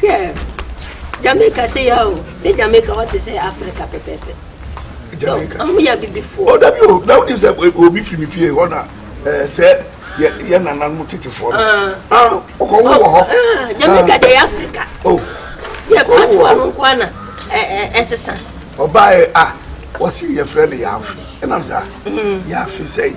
Hwɛ, Jamaica se ya o, se Jamaica hɔ te sɛ Africa pɛpɛɛpɛ. Jamaica. So, ɔmo yɛ abibifoɔ. O oh, dabi o, na wodi sɛ obi firi mi fie hɔ na ɛɛ eh, sɛ yɛ yɛ nananom tetefoɔ no. Ah, ɔkɔ wo wɔ hɔ. Ah, Jamaica ah. de yɛ Africa. O, oh. yɛ patoa no nkoa na ɛɛ ɛsesa. Ɔbaa yɛ a, wɔsi yɛ frɛ no yaafi, ɛnam saa, mm. yaafi sɛyi.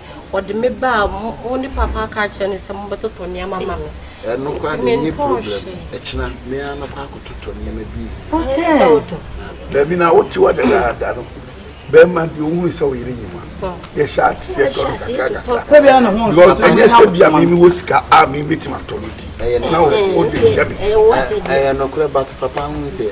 Wɔde me baa mo mo ne papa ka kyerɛ no sɛ mobɛtotɔ nneɛma ma me. Ɛno koraa de nye problem. Ɛkyena me ara mɛkɔ akɔtotɔ nneɛma bi. Ɛne sɛ wotɔ. Baabi na wote hɔ dadaada no, bɛrima bi ohun sɛ ɔyere nyi ma. Yɛhyɛ aseɛ tɔ no kakra kakra. Sɛbia ne ho nsɔ. Because ɛnyɛ sɛ bia me mewɔ sika a me betumi atɔ no ti. Na wode kyɛ me. Ɛyɛ nokorɛ but papa ho sɛ.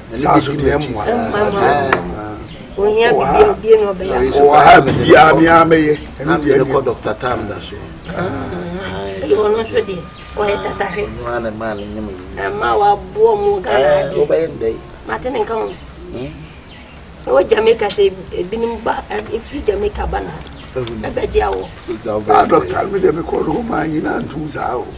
saa so deɛ mmoa ohia biribi obie na ɔbɛyɛ wɔ ha biribiara me ara mɛyɛ ɛno deɛ ɛne kɔ dɔkta tam da so ɛwɔ no nso deɛ ɔyɛ tatahwe ɛma waboɔ mu ghana adeɛ mate ne nka ho ɛwɔ jamaica sɛ ebinom ba ɛfiri jamaica ba na ɛbɛgye awɔ saa dɔkta no deɛ mekɔ no hɔ maa nyinaa ntom saa o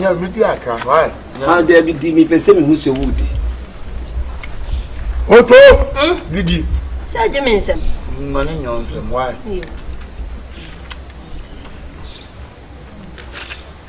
Nya mi di aka why? Ah, there be di mi pese mi hu se wo di. Oto. Gidi. Hmm? Sɛ gye me nsɛm. Ma ne nyɛ nsɛm why?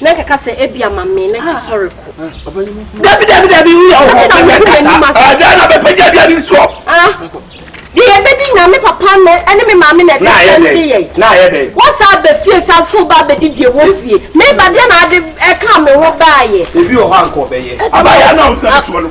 na nkeka sɛ ebi ama me na yɛsɔre ko. dabi dabi dabi wuyɛ ɔhɔ ɛdɛn na bɛpɛgya aduane no soɔ deɛ yɛbɛdi nyame papa no ɛne me maame na ɛde sɛm de yɛ na ayɛ dɛ wosa bɛfie sa nso ba bɛdi deɛ wɔ fie meba deɛ na ade ɛka me ho baayɛ ebi wɔ hɔ ankɔ bɛyɛ abayɛ na ɔmfɛ no soɔ no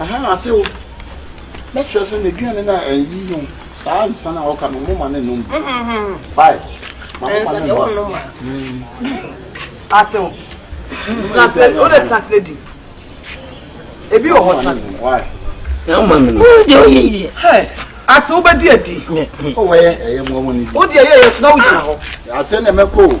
Aha na ase o. Mɛsrɛ sɛ n'aduane no a ɛyi no saa nsa no a ɔka no moma no nom bi. Bae. Ma moma no nom. Ase o. Transle o de transle di. Ebi wɔ hɔ transle. Why? Na mma mi. O de o yɛ yɛ. Hey. Ase o bɛ di adi. O wɔ yɛ ɛyɛ mɔ mɔ ni. O de yɛ yɛ so na o gyina hɔ. Ase na mɛ ko.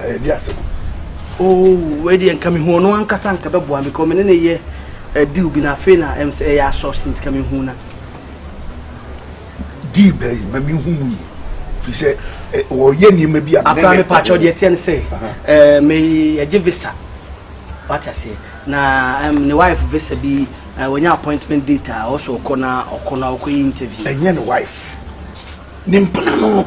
ɛyɛ di asɛm oo wei deɛ nka mehu ɔno ankasa nka bɛboa me kɔ me ne ne yɛ deal bi na afei na ɛm sɛ ɛyɛ asɔs nti ka mehu na deal bɛyi ma mehu mu yi firi sɛ wɔyɛ nneɛma bi a akora me paakyɛw deɛ ɛteɛ no sɛ meyɛgye visa wate aseɛ na ne wife visa bi wɔnya appointment date a ɔsɛ ɔkɔ na ɔkɔ na ɔkɔyɛ interview ɛnyɛ ne wife ne mpena no no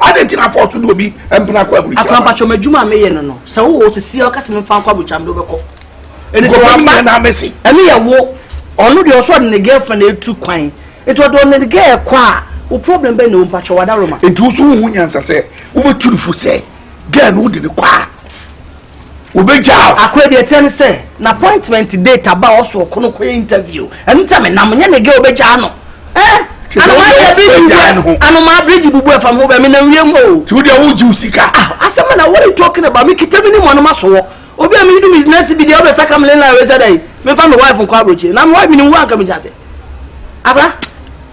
Adɛn nti na afɔ ɔto ne obi mpena kɔ ahurisie aba? Akorampakyɛw, m'adwuma a meyɛ no no, sɛ wowɔ hɔ sɛsi ara woka sɛ memfa nkɔ abotwaa, mede wo bɛkɔ. Enti sɛ waba a, ɛno yɛ wo. Ɔno deɛ, ɔwɔ sɛ ɔde ne girlfriend atu kwan. Enti ɔde ɔne ne girl kɔ a, wo problem bɛn na ɛwom? Pakyɛ, w'adaworoma. Enti wo nso wonhu nyansa sɛ wobɛtu no fo sɛ girl no wode no kɔ a? Wobegyaa wo. Akoa deɛ ɛteɛ ne sɛ n'appointment date aba a ɔsɔ ɔkɔ no kɔyɛ interview. Ɛno nti a menam, nyɛ ne gɛ wobegyaa no. Eh! Nti na Anomaa deɛ bridge wobegyaa bubu ne ho. ɛ, anomaa bridge bubu ɛfam ho bɛ, menam wiem o. Nti wo deɛ wogye wo sika. Ah, asɛm bɛn na what are you talking about? Me kita me ni mɔno maso hɔ. Obi a meyi no business bi deɛ wobɛsaka me landline wei sɛ dɛn? Memfa me wife nkɔ aburokyire. Na me wife menim wo a anka megye aseɛ. Abra,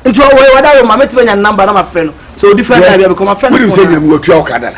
nti ɔwɔ he? Wada wo ma metumi anya ne number na mafrɛ no. Sɛ ɔdi fɛn Deɛ, time bi a mekɔ mafrɛ no wonim phone sɛ a. Nyame watua wo ka dada.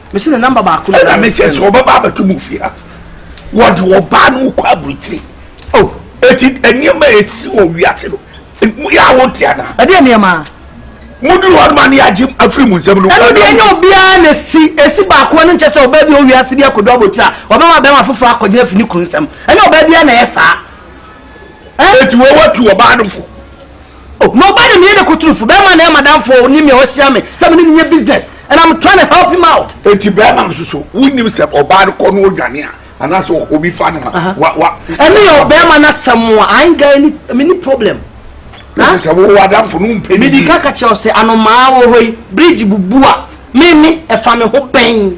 mesi ne namba baako ɛna mekyɛ sɛ ɔbɛba abɛto mu fie ha wɔde ɔbaa no kɔ aburukyiri o oh, eti nneɛma a esi wɔ wiase no yɛ awo nte ana. ɛdeɛ nneɛma. mo duru hɔ noma ne agye afiri mu nsɛm no. ɛnu deɛ ɛnyɛ obiara na esi esi baako ɛnu nkyɛ sɛ ɔbaa bi wɔ wiase bi akɔdu abotire a ɔbɛma bɛma foforɔ akɔgyina fi ne kunu nsɛm ɛnyɛ ɔbaa biara na ɛyɛ saa. Eti wei watu ɔbaa no fo. Oh, na ɔbaa no meyɛ ne kotorofo. Bɛrima na ɛyɛ madamfo ne me a ɔhyia me sɛ me ne no nyɛ business and I'm trying to help him out. Eti bɛrima no soso wonim sɛ ɔbaa no kɔ no odwane a anaasɛ obi fa no a wa wa. Ɛno yɛ ɔbɛrima no asɛm a I ain't got any me ni problem. Ɛfiri sɛ wo adamfo no wompɛ ne yie. Mede ka ka kyerɛ wo sɛ anomaa wɔ hɔ yi bridge bubu a me ne ɛfa me ho bɛn.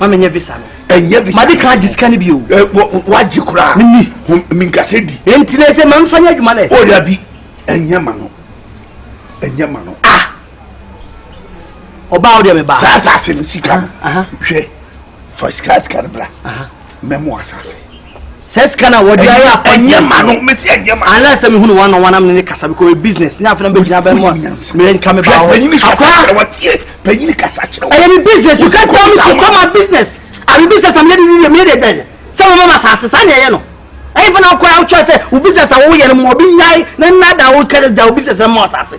ma menyɛ visa no ɛnyɛ visa made kan agye sika no bi o wagye koraa menni menkasɛ di enti na ɛsɛ mamfa nyɛ adwuma nɛ ɔda bi ɛnyɛ ma no ɛnyɛ ma no ah ɔbaa wo deɛ mebaa saa asase no sika no hwɛ fa sika sika no bra mɛmo asase sɛ sika na wɔde ayɛ apɔnti ɛnyɛ ma no mesi ɛnyɛ ma ala sɛ mehunu wɔn na wɔn anam ne ne kasa because ɔyɛ business ne afɛn bɛ gyina bɛn mu a mɛ nka mi ba hɔ panyini kasa kyerɛ wɔ tie panyini kasa kyerɛ wɔ ɛyɛ mi business you can tell me to stop my business abi business am yɛ de ni yɛ mi yɛ de ɛdɛ sɛ wɔn mɔ ma sa asesa ni ɛyɛ no ɛyɛ fana kɔ awotwa sɛ wo business a wɔyɛ no mu obi nyae na nna da wo kɛse gya wo business na mɔ asase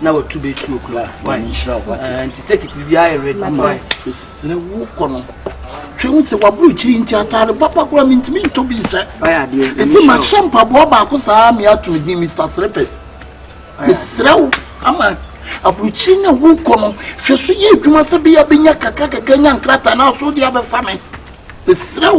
na watu bɛ two o'clock kwan nti tekit biribiara yɛ ready ama mesrɛ wo kɔ no hwɛ hu sɛ waboro kyiri nti atare papa koraa mentumi ntɔ bi nhyɛ ɛsɛ mahyɛ mpaboa baako saa meato no din mr srepes mesrɛ wo ama aburukyiri na wo kɔ no hwɛ so yɛ adwuma sɛ bɛyɛ bɛnya kakra kakra nya nkrataa na aso deɛ abɛfa me mesrɛ wo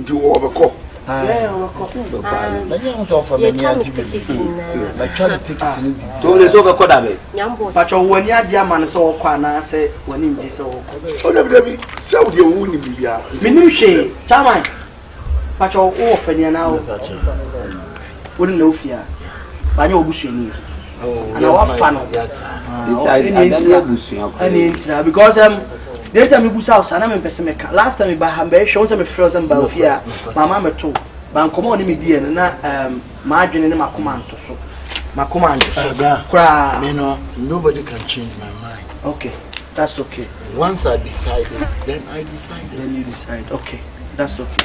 nti wɔ ɔbɛkɔ tole sɛ wobɛkɔ da bɛ patwɛ wo ani agye ama no sɛ wɔkɔ anaasɛ w'ani ngye sɛ wɔkɔ ɔdabidabi sɛ wodeɛ wo nim biribiaa menim hwee chairman patwɛ wowɔ fani anaa wo Wo ne na wo fie a, wanyɛ wo busuani a. Oh, ana wafa no. Yes, sir. Yes, I, I don't know busua. Ɛne ntina because um, the time ibu sa sa na me pese me ka. Last time ba ha mbe hwe won se me frɛ sɛ mba ofie a, mama me to. Ba nkɔmɔ ne me die no na um ma adwene ne makoma nto so. Makoma nto so. Kra. Me no, nobody can change my mind. Okay. That's okay. Once I decided, then I decided. Then you decide. Okay. That's okay.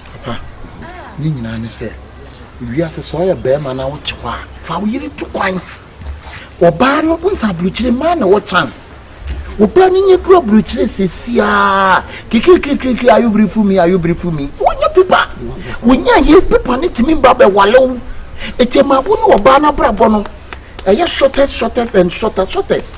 Papa, ne nyinaa ne sɛ, wiase sɛ ɔyɛ bɛrima na wote hɔ a, fa wo yere to kwan. Ɔbaa no, wohu sɛ aburokyire mmaa na wɔ chance. Ɔbaa no nyɛ duru aburokyire sesiaa, kikirikirikiri, are you beautiful me, are you beautiful me? Wonyɛ pepa. Wonya yɛ pepa ne tumi ba bɛwale wo. Ɛti ɛma wo ne ɔbaa no abrabɔ no, ɛyɛ shortest, shortest and shortest, shortest.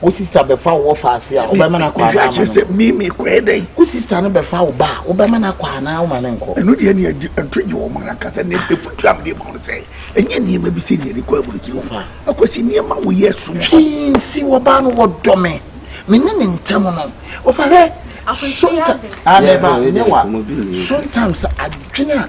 Wo sista bɛfa wo wɔfa ase a, wobɛma no akɔ anaa ama no nkɔ? Me me kɔɛ dɛn? Wo sista no bɛfa wo ba a, wobɛma no akɔ anaa woma no nkɔ? Ɛno deɛ ne ɛto gye wɔn ankasa ne ɛfutu amde ma wɔn sɛ ɛnyɛ nneɛma bi sɛ deɛ ne kɔ aburokyiri hɔ akɔsi nneɛma wo yɛ som hwee nsi wɔbaa no wɔdɔ me me ne ne ntɛm no wɔfa hwɛ sometimes adɛba ne wa sometimes adwene a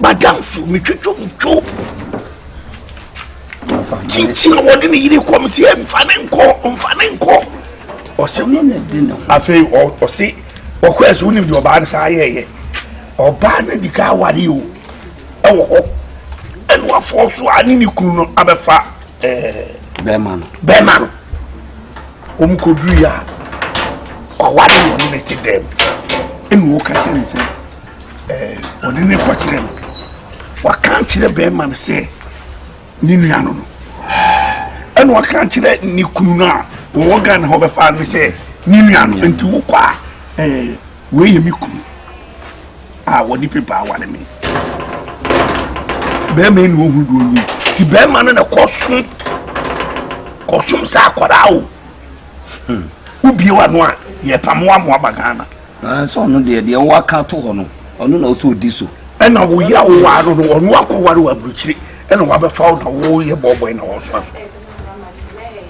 madamfo metwitwo mutwo kyinkyin a wɔde ne yere kɔ me sɛ mfa ne nkɔ mfa ne nkɔ ɔsɛ no ne de ne ho afei ɔse ɔkɔ ɛsɛ wonim deɛ ɔbaa no saa yɛɛyɛ ɔbaa no di ka aware o ɛwɔ hɔ ɛne wafoɔ so a ne ne kunu no abɛfa bɛɛma no bɛɛma no wɔn kɔduru yɛ a ɔware no ne ne te dɛm ɛne wɔka kyɛ ne sɛ ɛɛ ɔde ne kɔkyerɛ no waka nkyerɛ bɛrima no sɛ ne nua no no ɛna waka nkyerɛ ne kunu no a wɔwɔ ghana hɔ bɛfa no sɛ ne nua no nti wokɔ a ɛɛ wei yɛ me kunu a wɔde pepa aware me bɛrima yi na ɔhu deɛ ɔnyɛ nti bɛrima no na kɔsom kɔsom sɛ akwadaa o hmm. wobie w'ano a yɛpamoa moaba ghana Nanso ɔno deɛ, deɛ woaka ato hɔ no, ɔno na ɔsɛ ɔdi so. Ɛna wo yere a wowaa no no, ɔno akɔware wɔ aburukyire, ɛna wabɛfa wo na woyɛ bɔɔbɔe na wɔsoa so.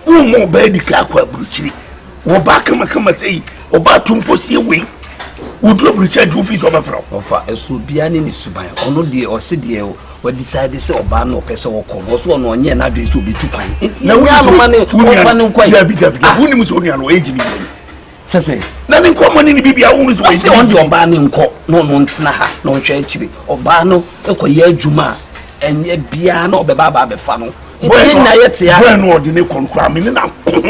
Womma ɔbaa di kan akɔ aburukyire. Wɔbaa kamakama sɛ yi, ɔbaa to mpo sie wei. Wodu aburukyire agye wo fii sɛ ɔbɛfrɛ wo. Ɔfa ɛso obiara ne ne suban. Ɔno deɛ ɔse deɛ wadecide sɛ ɔbaa no ɔpɛ sɛ ɔkɔ no ɔso ɔno ɔnyɛ n'adwene sɛ ɔbɛtu kwan. Nti ɛnyɛ anoma ne ɔmfa no nkɔ yi. Dabi dabi dabi, wonim sɛ onua no age ne yɛn. sɛsɛ na ne nkɔmmɔ ne ne bibia wo nso ɔsɛ ɔn deɛ ɔbaa ne nkɔ na ɔno ntena ha na ɔnhwɛ akyire ɔbaa no ɛkɔyɛ adwuma a ɛnyɛ biara na ɔbɛba aba abɛfa no nti na yɛ te a bɔɛ no ɔde ne kɔ nkura me ne na ko ho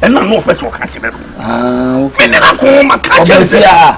ɛna na ɔpɛ sɛ ɔka kyerɛ no me ne na ko ho ma ka kyerɛ sɛ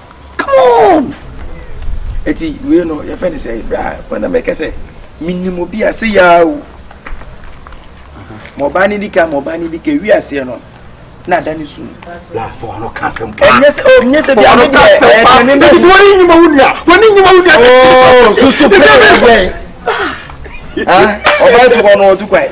come on eti wei no yɛfɛ ne sɛ bra wɔn na mɛka sɛ menim obi a se yaa o ma ɔbaa ne di ka ma ɔbaa ne di ka wi aseɛ no na ada ne su ɛnyɛ sɛ o nyɛ sɛ bia ne deɛ ɛyɛ deɛ ne nani wɔn ni nyima wo nua wɔn ni nyima wo nua ooo soso pɛrɛ yɛ ɔbaa tukɔ no ɔtukɔ yɛ.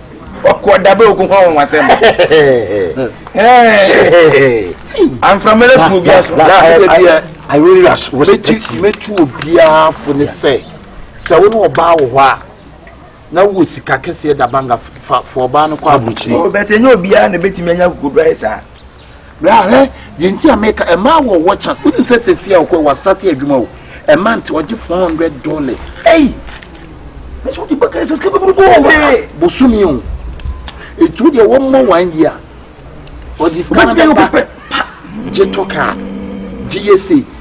ɔkɔ dabe ogun kɔ wɔn asɛm anframɛlɛ tu obi aso. I really respect you. Mɛtu obiara fo ne sɛ sɛ wo ne ɔbaa wɔ hɔ a na wo sika kɛseɛ da banga fa fa ɔbaa no kɔ aburukyiri. Bɛtɛ nyɛ obiara na bɛtumi anya kokoduaeɛ saa. Bra hwɛ deɛ nti a meka ɛmaa wɔ wɔ kyan wonim sɛ sɛsi a ɔkɔ wɔ asate adwuma o ɛma nti ɔgye four hundred dollars ɛyi mɛsɛ wode bɛka sɛ sika bɛburu bɔ wɔ wɔ bosome o ɛtu deɛ wɔmmɔ one year ɔde sika no bɛba gye tɔ kaa gye yɛ sei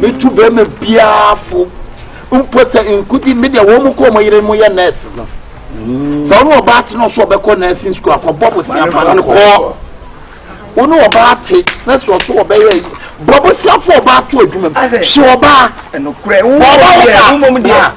metu bɛrima biara fo mpo sɛ nkudi me deɛ wɔn mu kɔ wɔn yere mu yɛ nurse no sɛ wɔn ɔbaa te na ɔso ɔbɛkɔ nursing school akɔbɔ bosia fa no kɔ wɔn ɔbaa te na sɛ ɔso ɔbɛyɛ bɔ bosia fo ɔbaa to adwuma mu hyɛ ɔbaa ɔbaa ɔbaa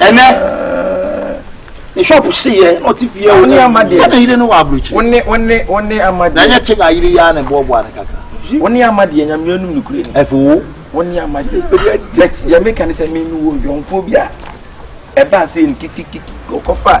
ɛnɛ ne shop seyɛ na ɔte fie a ɔne amade sɛ ne yere no wɔ aburokyire wone wone wone amade na nyɛ te na yere yi a ne boaboa ne kakra wone amade nyameɛ num nokure ni ɛfo wo wone amade yɛ meka ne sɛ me mewɔ yɔnko bi a ɛbaa sɛ no kikikiki ɔkɔfa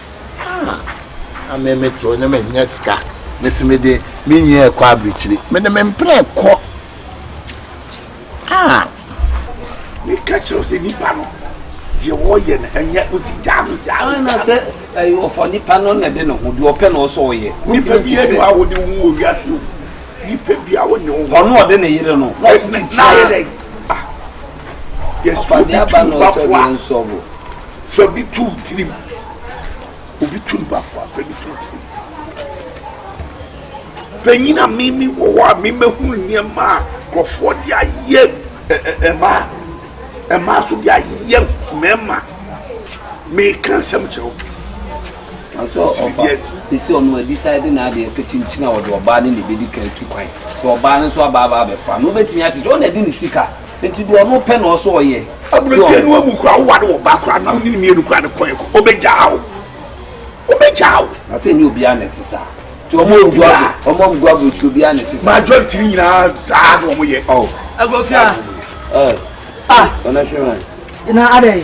Ah na me me tew ne me nyɛ sika ne se me de me nwi ɛkɔ abirikyiri me de me mpere kɔ ah me ka kyerɛ sɛ nipa no deɛ wɔyɛ no ɛnyɛ wosi gyaa no gyaa no na sɛ ɔfa nipa no na ɛde ne ho deɛ ɔpɛ na ɔsɔ ɔyɛ nipa bi yɛ no a wɔde wo wɔ wiase o nipa bi a wɔne wo ɔno ɔde ne yere no na ɔsi ti tia yɛ dɛ Yes, Ɔfa obi deɛ tu aba ne ɔkyɛ bafoa. deɛ nsɔbo. Fa bi tu wo tirim. Obi tu ne bafoa, fa bi tu wo tirim. Panyin a me me wɔ hɔ a me mɛhu nneɛma a nkurɔfoɔ de ayɛ ɛ- ɛ- ɛmaa ɛmaa nso de ayɛ mmarima. Meka nsɛm kyerɛ wo. Ɔtɔ ɔba esi ɔno adecide n'adeɛ sɛ kyinkyin a ɔde ɔbaa ne na ebedi kan etu kwan sɛ ɔbaa no nso aba aba abɛfa no obetumi akyekyɛ ɔna ɛde ne sika nti deɛ ɔno pɛ na ɔsɔ ɔyɛ. Aburokyire no amu kura awoware wɔ ba kura na ɔne mmienu kura ne kɔɛ kɔ obegyaa o obegyaa o. Na sɛ nye obiara na ɛte saa nti ɔmo amu ɔmo amu gu aburokyire obiara na ɛte saa. Majority ne nyinaa saa na ɔmo yɛ. Ɔwɔ. Agofia. Ɛɛ. Ah. Ɔna hyɛ wɔn. Na adɛ.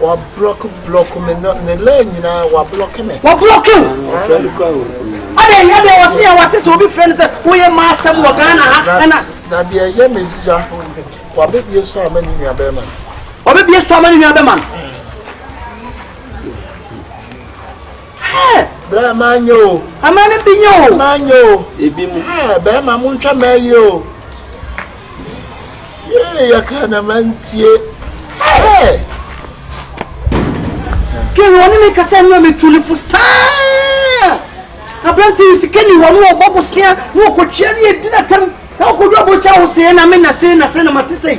Wablɔke blɔke me no ne line nyinaa wablɔke me. Wablɔke wo? Adɛn yɛ deɛ wɔse a wate sɛ obi frɛ no sɛ woyɛ ma asɛm wɔ Ghana ha ɛna. Na deɛ ɛyɛ me ya wabɛbie so ama ne nua bɛrima no. Wabɛbie so ama ne nua bɛrima no. Hɛɛ! Bra ma nyɛ o. Ama no bi nyɛ o. Bra ma nyɛ o. Ebi mu. Hɛɛ! Bɛɛma mo ntwa mɛ yi o. Yee yɛ kaa na ma ntie. Hɛɛ! Kɛ wɔ ne me kasa nua me tu ne fo saa. Abrante yi sika ni hɔ no ɔbɔ bosea na ɔkɔtwea ne yɛ di na tɛm na ɔkɔdwa bɔkya ho sɛɛ na me na sɛɛ na sɛɛ na ma te sɛɛ.